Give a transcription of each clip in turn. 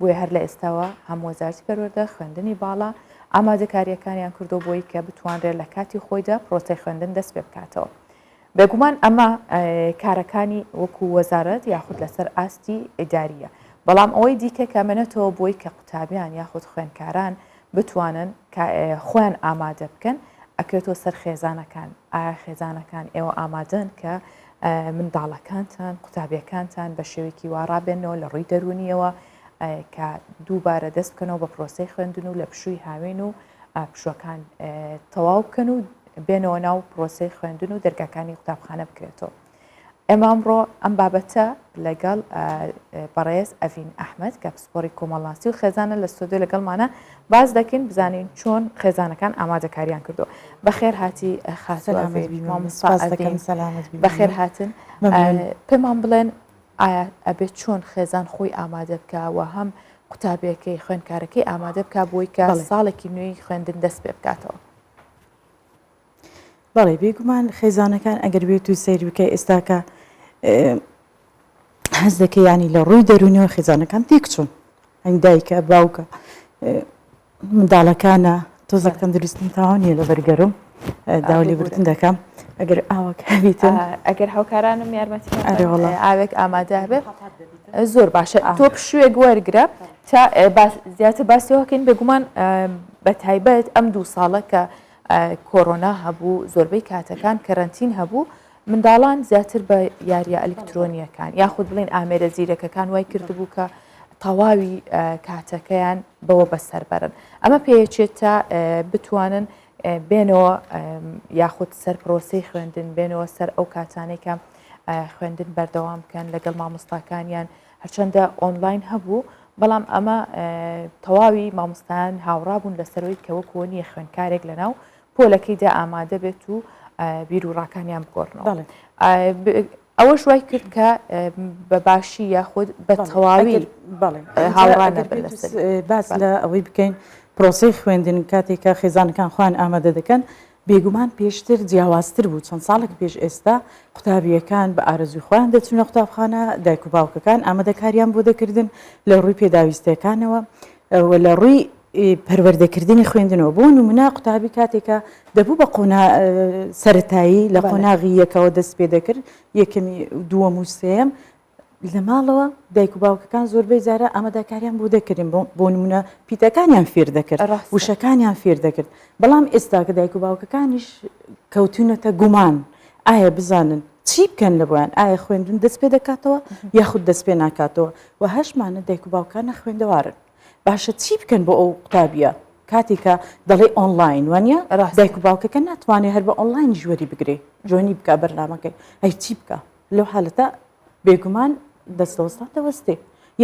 بۆیە هەر لە ئێستاوە هەم وەزارتی پەروەردە خوێندنی باڵا ئامادەکاریەکانیان کردو بۆی کە بتوانرێت لە کاتی خۆیدا پرۆسەی خوێندن دەست پێ بکاتەوە. بێگومان ئەمە کارەکانی وەکو وەزارەت یاخود لەسەر ئاستی ئیداریە بەڵام ئەوەی دیکە کەمێنێتەوە بۆی کە قوتابیان یاخود خوێنکاران بتوانن خۆیان ئامادە بکەن ئەکرێتەوە سەر خێزانەکان ئایا خێزانەکان ئێوە ئامادەن کە منداڵەکانتان، قوتابیەکانتان بە شێوەیەکی وا ڕابێنەوە لە ڕووی دەروونیەوە کە دووبارە دەست بکەنەوە بە پرۆسەی خوێندن و لە پشووی هاوین و پشوەکان تەواو بکەن و بێنەوە ناو پرۆسەی خوێندن و دەرگاکانی قوتابخانە بکرێتەوە ئێمە ئەمڕۆ ئەم بابەتە لەگەڵ بەڕێز ئەڤین ئەحمد کە پسپۆری کۆمەڵناسی و خێزانە لە سۆدۆ لەگەڵمانە باس دەکەین بزانین چۆن خێزانەکان ئامادەکاریان کردووە بەخێر هاتی خاس بەخێر هاتن پێمان بڵێن ئایا ئەبێت چۆن خێزان خۆی ئامادە بکە و هەم قوتابیەکەی خوێندکارەکەی ئامادە بک بۆی کە ساڵێکی نوێی خوێندن دەست پێ بکاتەوە بەڵێ بێگومان خێزانەکان ئەگەر بێت و سیر بکە ئێستاکە هەز دەکە ینی لە ڕووی دەرونیەوە خێزانەکان تێکچوون ئەنگ دایکە باوکە منداڵەکانە تۆزەک تەندروستن تاوانە لە بەرگەرم داولی بردن دەکەم ئەگەر ئاوەکە بیتن ئەگەر هاوکارانم یارمەتی ئاوێک ئامادە بێت زۆر باشە تۆ پشوێک وەرگرە تا زیاتر باسیەوەکەین بێگومان بە تایبەت ئەم دوو ساڵە کە کۆرۆنا هەبوو، زۆربەی کاتەکان کەرەنتین هەبوو، منداڵان زیاتر بە یارییە ئەلیکترۆنییەکان یاخود بڵێین ئامێرە زیرەکەکان وای کردبوو کە تەواوی کاتەکەیان بەوە بەسەر بەرن. ئەمە پێیەچێت تا بتوانن بێنەوە یاخود سەر پرۆسەی خوێندن بێنەوە سەر ئەو کاتانێکە خوێندن بەردەوام بکەن لەگەڵ مامۆستاکانیان هەرچەندە ئۆنلاین هەبوو، بەڵام ئەمە تەواوی مامۆستایان هاوڕابوون لەسەرەوەی کە وەکووە نییە خوێنکارێک لەناو پۆلەکەیدا ئامادە بێت و بیر و ڕاکانیان بگۆڕنەوە ئەوەش وای کرد کە بە باشی یاخود بە تەواوی هاوڕان باس لە ئەوەی بکەین پرۆسی خوێندن کاتێکە خێزانەکان خوان ئامادە دەکەن بێگومان پێشتر جیاوازتر بوو، چەند ساڵێک پێش ئێستا قوتابییەکان بە ئارەزووی خۆیان دەچوونە قوتابخانە، دایک و باوکەکان ئامادەکارییان بۆ دەکردن لە ڕووی پێداویستییەکانەوە و لە ڕووی پەروەردەکردنی خوێندنەوە، بۆ نموونە قوتابی کاتێکە دەبوو بە قۆناغی سەرەتایی لە قۆناغی یەکەوە دەست پێ دەکرد، یەکەمی و دووەم و سێیەم، لە ماڵەوە دایک و باوکەکان زۆربەی جارە ئامادەکاریان بۆ دەکردین، بۆ نموونە پیتەکانیان فێر دەکرد، وشەکانیان فێر دەکرد، بەڵام ئێستا کە دایک و باوکەکانیش کەوتوونەتە گومان، ئایا بزانن چی بکەن لە بۆیان، ئایا خوێندن دەست پێ دەکاتەوە یاخود دەست پێ ناکاتەوە و هەشمانە دایک و باوکان نەخوێندەوارن، باشە چی بکەن بۆ ئەو قوتابییە کاتێک کە دەڵێی ئۆنڵاین وانیە، دایک و باوکەکە ناتوانێت هەر بە ئۆنڵاینیش وەری بگرێت، جۆینی بکات بەرنامەکەی، ئەی چی بکات؟ لەو حالەتە بێگومان دەستەوەستان دەوەستێ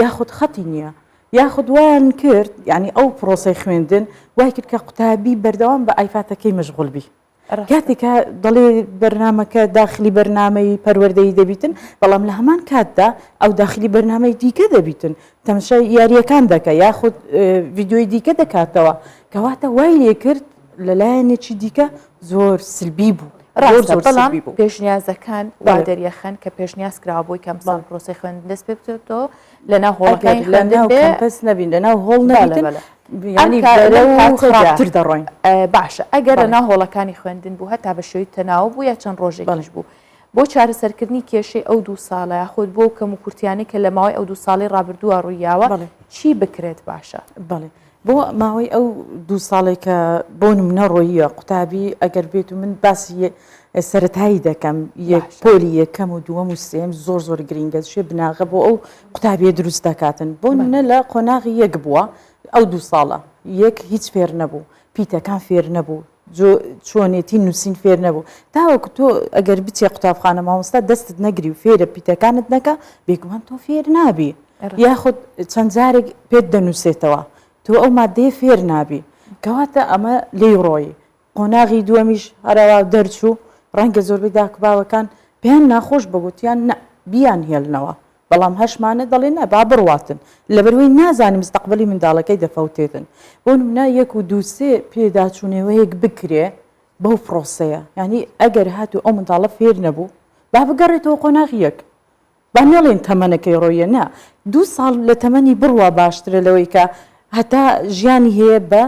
یاخود خەتی نییە یاخود وایان کرد یعنی ئەو پرۆسی خوێندن وای کرد کە قوتابی بەردەوام بە ئایفاتەکەی مەشغول بی کاتێکە دەڵێ بەرنمەکە داخلی بەرنمەی پەروەردەی دەبیتن بەڵام لە هەمان کاتدا ئەو داخلی بەرنمەی دیکە دەبیتن تەمشای یاریەکان دەکە یاخود ڤیددیوی دیکە دەکاتەوە کەواتە وای لێ کرد لە لایەنێکی دیکە زۆر سلبی بوو. ڕاستە بەڵام پێشنیازەکان وا دەریەخەن کە پێشنیاز کراوە بۆی کەم ساڵ پرۆسی خوێندن دەست پێ بکرێتەوە لە ناو هۆڵەکانی خوێندن بێ کەمپەس نەبین لە ناو هۆڵ نەبین ینی بەرە و خراپتر دەڕۆین باشە ئەگەر لە ناو هۆڵەکانی خوێندن بوو هەتا بە شێوی تەناو بوو یا چەند ڕۆژێکیش بوو بۆ چارەسەرکردنی کێشەی ئەو دوو ساڵە یاخود بۆ کەم و کورتیانی کە لە ماوەی ئەو دوو ساڵی ڕابردووە ڕوویاوە چی بکرێت باشە بڵێ بۆ ماوەی ئەو دوو ساڵەی کە بۆ نمونە ڕۆییە قوتابی ئەگەر بێت و من باسی سەتایی دەکەم یەک پۆلی یەکەم و دووەم و سێم زۆر زۆر گرینگە شێ بناغە بۆ ئەو قوتابیە دروست دەکاتن بۆ نە لە قۆناغی یەک بووە ئەو دوو ساڵە یەک هیچ فێر نەبوو پیتەکان فێر نەبوو جۆ چۆنێتی نووسین فێر نەبوو تاوەکو تۆ ئەگەر بچێ قوتابخانە مامۆستا دەستت نەگری و فێرە پیتەکانت نەکە بێگومان تۆ فێر نابی یاخود چەند جارێک پێت دەنووسێتەوە تۆ ئەو مادەیە فێر نابی کەواتە ئەمە لێی ڕۆی قۆناغی دووەمیش هەرەوا دەرچوو ڕەنگە زۆربەی داکباوەکان پێیان ناخۆش بەگوتیان نە بیان هێلنەوە بەڵام هەشمانە دەڵێن نا با بڕواتن لەبەروەی نازانن مستەقبەلی منداڵەکەی دەفەوتێتن بۆ نمونە یەک و دوو سێ پێداچونەوەیەک بکرێ بەو پڕۆسەیە یانی ئەگەر هاتو ئەو منداڵە فێر نەبوو با بگەڕێتەوە قۆناغ یەک با نەڵێن تەمەنەکەی ڕۆیە نا دوو ساڵ لە تەمەنی بڕوا باشترە لەوەی کە هەتا ژیانی هەیە بە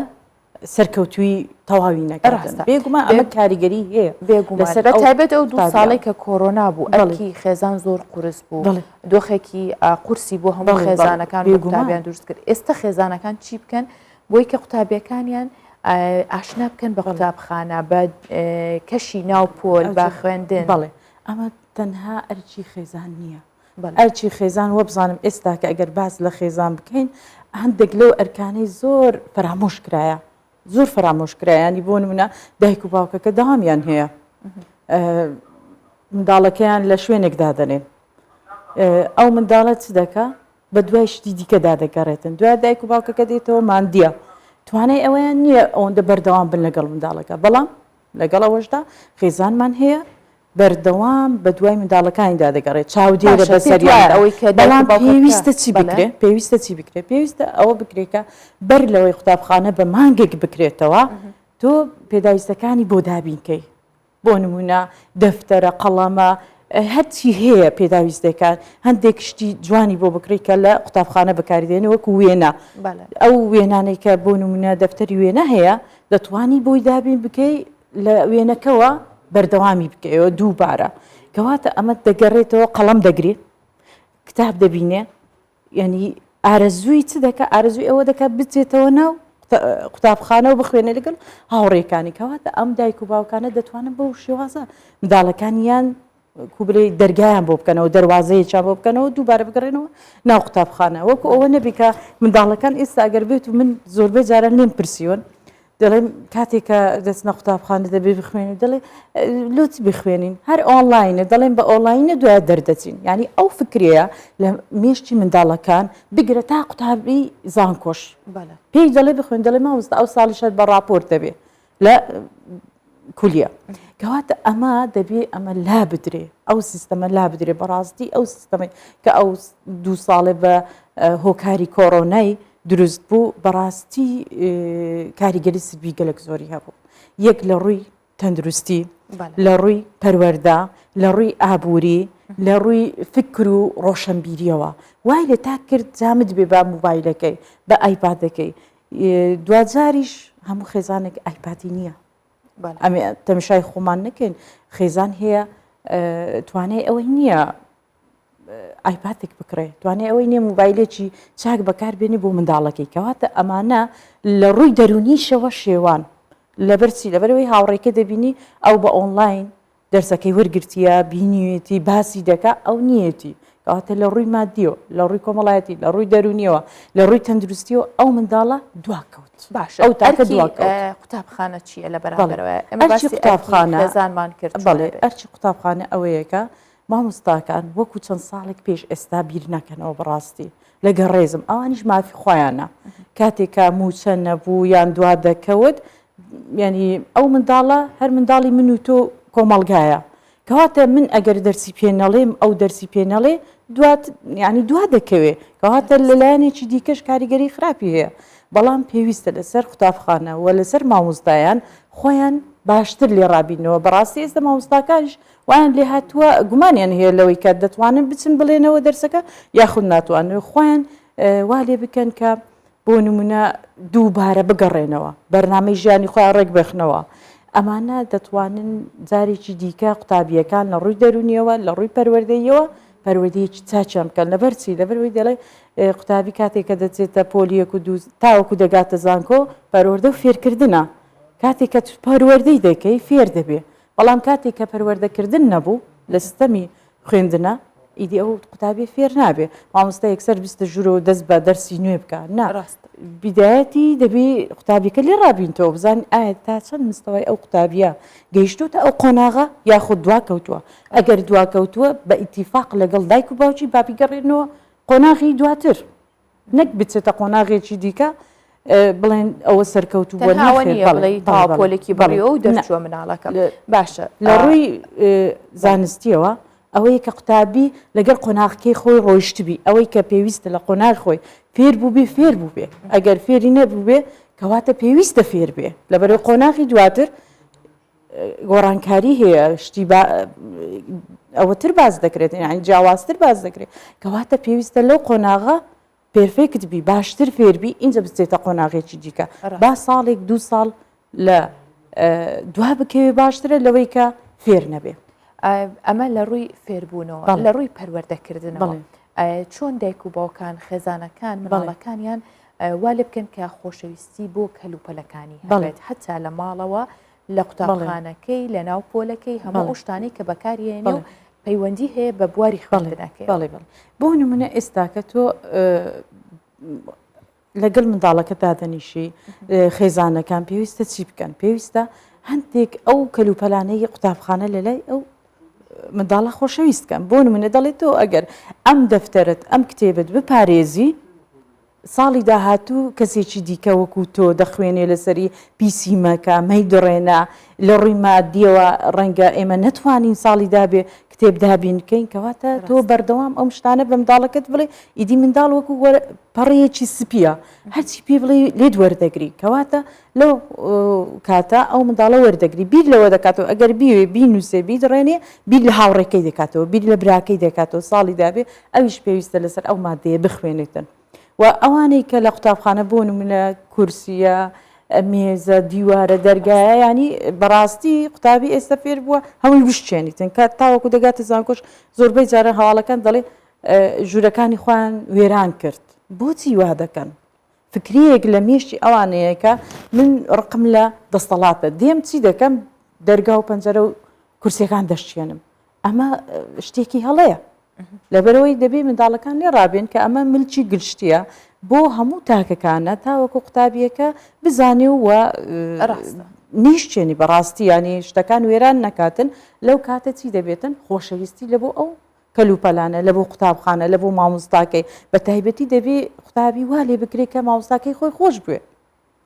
سەرکەوتووی تەواوی نەکردن. بێگومان ئەمە کاریگەری هەیە بێگومان، بە تایبەت ئەو دوو ساڵەی کە کۆرۆنا بوو ئەرکی خێزان زۆر قورس بوو، دۆخێکی قورسی بۆ هەموو خێزانەکان و قوتابیان دروست کرد، ئێستا خێزانەکان چی بکەن بۆی کە قوتابیەکانیان ئاشنا بکەن بە قوتابخانە بە کەشی ناو پۆل بە خوێندن. بەڵێ ئەمە تەنها ئەرکی خێزان نییە. ئەرکی خێزان وەبزانم ئێستاکە ئەگەر باس لە خێزان بکەین هەندێک لەو ئەرکانەی زۆر فەرامۆش کرایە زۆر فەرامۆش کرایانی بۆ نمونە دایک و باوکەکە داوامیان هەیە منداڵەکەیان لە شوێنێک دادەنێن ئەو منداڵە چ دەکە بە دوای شتی دیکەدا دەگەڕێتن دوا دایک و باوکەکە دێتەوە مادیە توانای ئەوەیان نییە ئەوەندە بەردەوام بن لەگەڵ منداڵەکە بەڵام لەگەڵ ئەوەشدا خێزانمان هەیە بەردەوام بەدوای منداڵەکانیدا دەگەڕێت، چاودێرە بە سەریاندا، بەڵام پێویستە چی بکرێت؟ پێویستە چی بکرێت؟ پێویستە ئەوە بکرێت کە بەر لەوەی قوتابخانە بە مانگێک بکرێتەوە، تۆ پێداویستەکانی بۆ دابین کەی، بۆ نموونە دەفتەرە، قەڵەمە، هەرچی هەیە پێداویست دەکات، هەندێک شتی جوانی بۆ بکڕی کە لە قوتابخانە بەکاری دێنێ وەکو وێنە، ئەو وێنانەی کە بۆ نموونە دەفتەری وێنە هەیە دەتوانی بۆی دابین بکەی، لە وێنەکەوە بەردەوامی بکەیەوە دووبارە کەواتە ئەمە دەگەڕێتەوە قەڵەم دەگرێ کتاب دەبینێ یعنی ئارەزووی چ دەکە ئارزوی ئەوە دەکات بچێتەوە ناو قوتابخانەوە بخوێنە لەگەڵ هاوڕێکانی کەواتە ئەم دایک و باوکانە دەتوانن بەو شێوازە منداڵەکانیان وەکو بڵێی دەرگایان بۆ بکەنەوە، دەروازەیەکیان بۆ بکەنەوە، دووبارە بگەڕێنەوە ناو قوتابخانە، وەکو ئەوە نەبی کە منداڵەکان ئێستا گەر بێت و من زۆربەی جاران لێم پرسیون دەڵێم کاتێک کە دەچنە قوتابخانە دەبێ بخوێنین و دەڵێ لۆ چ بخوێنین هەر ئۆنلاینە دەڵێن بە ئۆنلاینە دوای دەردەچین یعنی ئەو فکرەیە لە مێشکی منداڵەکان بگرە تا قوتابی زانکۆش پێی دەڵێ بخوێن دەڵێ مامۆستا ئەو ساڵیش هەر بە ڕاپۆرت دەبێ لە کولیە کەواتە ئەمە دەبێ ئەمە لا بدرێ ئەو سیستەمە لا بدرێ بەڕاستی ئەو سیستەمەی کە ئەو دوو ساڵێ بە هۆکاری کۆرۆنای دروست بوو بەڕاستی کاریگەری سبی گەلک زۆری هەبوو یەک لە ڕووی تەندروستی لە ڕووی پەروەەردا لە ڕووی ئابووری لە ڕووی فکر و ڕۆشنبیریەوە وای لە تا کرد جامت بێ بە موبایلەکەی بە ئایپادەکەی دواجاریش هەموو خێزانێک ئایپاتی نییە ئەمێ تەمشای خۆمان نەکەین خێزان هەیە توانای ئەوەی نییە ئایپاتێک بکڕێ توانێ ئەوەی نیە موبایلێکی چاک بەکار بێنی بۆ منداڵەکەی کەواتە ئەمانە لە ڕووی دەرونیشەوە شێوان لەبەرچی لەبەرەوەی هاوڕێکە دەبینی ئەو بە ئۆنلاین دەرسەکەی وەرگرتیە بینیوێتی باسی دەکا ئەو نیەتی کەواتە لە ڕووی مادیەوە لە ڕووی کۆمەڵایەتی لە ڕووی دەرونیەوە لە ڕووی تەندروستیەوە ئەو منداڵە دواکەوت باش ئەو تاکە قوتابخانە چییە لە بەرامبەرەوەزانمان کرد بەڵێ ئەرچی قوتابخانە ئەوەیەکە مامۆستاکان وەکو چەند ساڵێک پێش ئێستا بیر ناکەنەوە بەڕاستی لەگەڵ ڕێزم ئەوانیش مافی خۆیانە کاتێک کە موچە نەبوو یان دوا دەکەوت ینی ئەو منداڵە هەر منداڵی من و تۆ کۆمەلگایە کەواتە من ئەگەر دەرسی پێ نەڵێم ئەو دەرسی پێ نەڵێ دوات ینی دوا دەکەوێ کەواتە لەلایەنێکی دیکەش کاریگەری خراپی هەیە بەڵام پێویستە لەسەر قوتابخانە و لەسەر مامۆستایان خۆیان باشتر لێ ڕابینەوە بەڕاستی ئێستا مامۆستاکانش وایان لێهاتووە گومانیان هەیە لەوەی کە دەتوانن بچن بڵێنەوە دەرسەکە یاخود ناتوانن خۆیان وا لێ بکەن کە بۆ نمونە دووبارە بگەڕێنەوە بەرنامەی ژیانی خۆیان ڕێک بخنەوە ئەمانە دەتوانن جارێکی دیکە قوتابیەکان لە ڕووی دەرونیەوە لە ڕووی پەروەردەیەوە پەروەدەیەکی چاچیان بکەن لەبەرچی لەبەروی دەڵێ قوتابی کاتێکە دەچێتە پۆلیەک و دوو تاوەکو دەگاتە زانکۆ پەروەردە و فێرکردە کاتێک کە پەروەردەی دەکەی فێر دەبێ بەڵام کاتێک کە پەروەردەکردن نەبوو لە ستەمی خوێندنە ئیدی ئەو قوتابیە فێر نابێ مامۆستا یەکسەر بستە ژوورە و دەست بە دەرسی نوێ بکە نا بیدایەتی دەبی قوتابیەکە لێ ڕابینتەوە بزان ئایا تا چەند مستەوەی ئەو قوتابیە گەیشتوتە ئەو قۆناغە یاخود دوا کەوتووە ئەگەر دوا کەوتووە بە ئیتیفاق لەگەڵ دایک و باوکی بابیگەڕێنەوە قۆناغی دواتر نەک بچێتە قۆناغێکی دیکە بڵێن ئەوە سەرکەوتوو پۆلێکی بەڵی ئەو دەرچوە مناڵەکە باشە لە ڕووی زانستیەوە ئەوەیە کە قوتابی لەگەر قۆناغکەی خۆی ڕۆیشتبی ئەوەی کە پێویستە لە قۆناغ خۆی فێر بوو بێ فێر بوو بێ ئەگەر فێری نەبوو بێ کەواتە پێویستە فێر بێ لەبەرەوە قۆناغی دواتر گۆڕانکاری هەیە شتی ئەوەتر باز دەکرێت یعنی جیاوازتر باز دەکرێت کەواتە پێویستە لەو قۆناغە پێرفێکت بی باشتر فێربی اینجا بچێتە قۆناغێکی دیکە با ساڵێک دو ساڵ لە دوا بکەوێ باشترە لەوەی کە فێر نەبێ ئەمە لە ڕووی فێربوونەوە لە ڕووی پەروەردەکردنەوە چۆن دایک و باوکان خێزانەکان مڵەکانیان وا لێ بکەن کە خۆشەویستی بۆ کەلوپەلەکانی هەبێت هەتا لە ماڵەوە لە قوتابخانەکەی لە ناو پۆلەکەی هەمە ئەوشتانەی کە بەکارهێنێ و پەیوەندی هەیە بە بواری خوێندنەکەی بەڵێ بڵ بۆ نمونە ئێستاکە تۆ لەگەل منداڵەکە دادەنیشی خێزانەکان پێویستە چی بکەن پێویستە هەندێک ئەو کەلوپەلانەی قوتابخانە لە لای ئەو منداڵە خۆشەویستکەم بۆ منە دەڵێت تۆ ئەگەر ئەم دەفتەرت ئەم کتێبت بپارێزی ساڵی داهاتوو کەسێکی دیکە وەکو تۆ دەخوێنێ لەسەری پیسی مەکە، مەیدڕێنە، لە ڕووی مادییەوە ڕەنگە ئێمە نەتوانین ساڵی دابێ کتێب دابین کەین کەواتە تۆ ڕاستە. بەردەوام ئەم شتانە بە منداڵەکەت بڵێ ئیدی منداڵ وەکو وەر پەڕەیەکی سپییە هەرچی پێی بڵێ لێت وەردەگری کەواتە لەو کاتە ئەو منداڵە وەردەگری بیر لەوە دەکاتەوە ئەگەر بیوێ بینووسێ بیدڕێنێ بیر لە هاوڕێکەی دەکاتەوە بیر لە براکەی دەکاتەوە ساڵی دابێ ئەویش پێویستە لەسەر ئەو مادەیە بخوێنێتن و ئەوانەی کە لە قوتابخانە بۆ نمونە کورسیە مێزە دیوارە دەرگایە ینی بەڕاستی قوتابی ئێستا فێر بووە هەمووی بشتێنیتن کە تاوەکو دەگاتە زانکۆش زۆربەی جارە هەواڵەکان دەڵێ ژوورەکانی خۆیان وێران کرد بۆچی وا دەکەن فکرەیەک لە مێشتی ئەوانەیەکە من ڕقم لە دەستەڵاتە دێم چی دەکەم دەرگا و پەنجەرە و کورسەکان دەشتێنم ئەمە شتێکی هەڵەیە لەبەرەوەی دەبێ منداڵەکان لێ ڕابێن کە ئەمە ملکی گشتیە بۆ هەموو تاکەکانە تاوەکو قوتابیەکە بزانێ و نیشتێنی بەڕاستی ینی شتەکان وێران نەکاتن لەو کاتە چی دەبێتن خۆشەویستی لە بۆ ئەو کەلوپەلانە لە بۆ قوتابخانە لە بۆ مامۆستاکەی بە تایبەتی دەبێ قوتابی وا لێ بکرێت کە ماوساکەی خۆی خۆش بوێ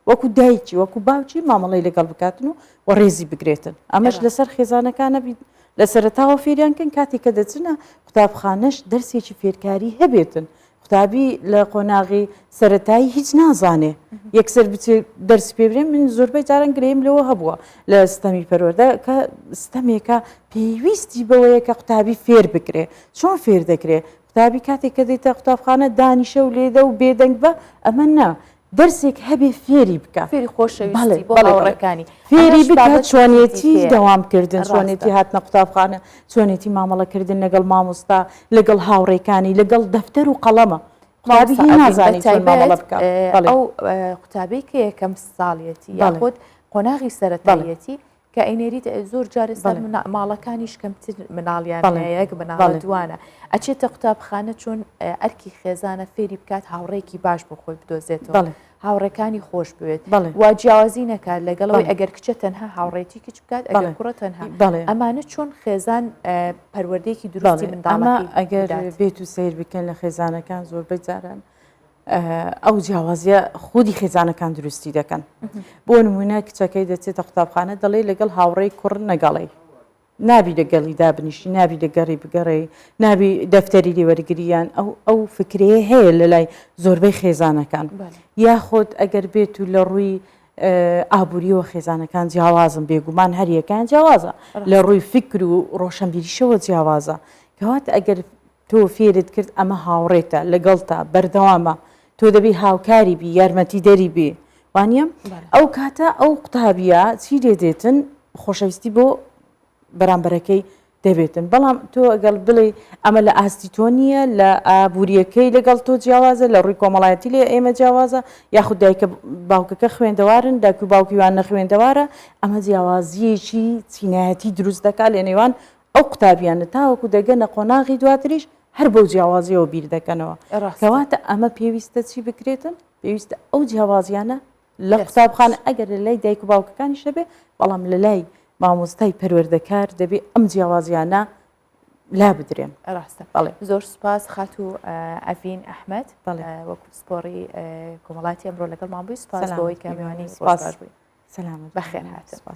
وەکو دایکی وەکو باوکی مامەڵی لەگەڵ بکاتن و و ڕێزی بگرێتن ئەمەش لەسەر خێزانەکانە بیت لە سەرتاوە فێریانکەن کاتی کە دەچنە قوتابخانەش دەرسێکی فێرکاری هەبێتن قوتابی لە قۆناغی سەتایی هیچ نازانێ یەکسەر بچ دەرس پێبرێن من زۆربەی جاران گریم لەوە هەبووە لە ستەمی پەروەەردە کە ستەمێکە پێویستی بەوەیە کە قوتابی فێر بکرێ چۆن فێر دەکرێ قوتابی کاتێک کە دێتە قوتابخانە دانیشە و لێدە و بێدەنگ بە ئەمە نا دەرسێک هەبێ فێری بکا فێری خۆشەویستی بۆ هاوڕێکانی فێری بکا چۆنێتی دەوامکردن چۆنێتی هاتنە قوتابخانە چۆنێتی مامەڵەکردن لەگەڵ مامۆستا لەگەڵ هاوڕێکانی لەگەڵ دەفتەر و قەڵەمە ئەو قوتابی کە یەکەم ساڵیەتی یاخود قۆناغی سەرەتایەتی کە ئەینێریت زۆر جارە سەر ماڵەکانیش کەمتر مناڵیان یەک بناڵە دوانە ئەچێتە قوتابخانە چۆن ئەرکی خێزانە فێری بکات هاوڕێکی باش بۆ خۆی بدۆزێتەوە هاوڕەکانی خۆش بوێت وا جیاوازی نەکات لەگەڵەوەی ئەگەر کچە تەنها هاوڕێتی کچ بکات ئەگەر کوڕە تەنها ئەمانە چۆن خێزان پەروەردەیەکی دروستی منداڵە ئەگەر بێت و سیر بکەن لە خێزانەکان زۆربەی جاران ئەو جیاوازیە خودی خێزانەکان دروستی دەکەن بۆ نمونە کچەکەی دەچێتە قوتابخانە دەڵێ لەگەڵ هاوڕێی کوڕ نەگەڵی نابی دەگەڵی دابنیشتی نابی دەگەڕی بگەڕێ نابی دەفتەری لێوەرگریان ئەو ئەو فکرەیە هەیە لە لای زۆربەی خێزانەکان یاخۆت ئەگەر بێت و لە ڕووی ئابووریەوە خێزانەکان جیاوازم بێگومان هەریەکان جیاوازە لە ڕووی فکر و ڕۆشنبیریشەوە جیاوازە کەوات ئەگەر تۆ فێرت کرد ئەمە هاوڕێتە لەگەڵتە بەردەوامە تۆ دەبی هاوکاری بی یارمەتی دەری بی وانە ئەو کاتە ئەو قوتابیە چی لێ دێتن خۆشەویستی بۆ بەرامبەرەکەی دەبێتن بەڵام تۆ گەڵ بڵێ ئەمە لە ئاستی تۆ نییە لە ئابوووریەکەی لەگەڵ تۆ جیاوازە لە ڕووی کۆمەڵایەتی لێ ئێمە جیاوازە یاخود دایکە باوکەکە خوێندەوارن داکو باوکیوان نەخوێندەوارە ئەمە جیاوازیەکی چینایەتی دروست دەکات لە نێوان ئەو قوتابیانە تاوەکو دەگەنە قۆناغی دواتریش هەر بەو جیاوازیەوە بیر دەکەنەوە کەواتە ئەمە پێویستە چی بکرێتن پێویستە ئەو جیاوازیانە لە قوتابخانە ئەگەر لە لای دایک و باوکەکانی شەبێ بەڵام لە لای مامۆستای پەروەردەکار دەبێ ئەم جیاوازیانە لا بدرێن ڕاستە بەڵێ زۆر سوپاس خات و ئەڤین ئەحمد بەڵێ وەکو سپۆری کۆمەڵاتی ئەمڕۆ لەگەڵ مابووی سوپاس بۆی کەمیوانی سپاس بووی سلام بەخێر هاتن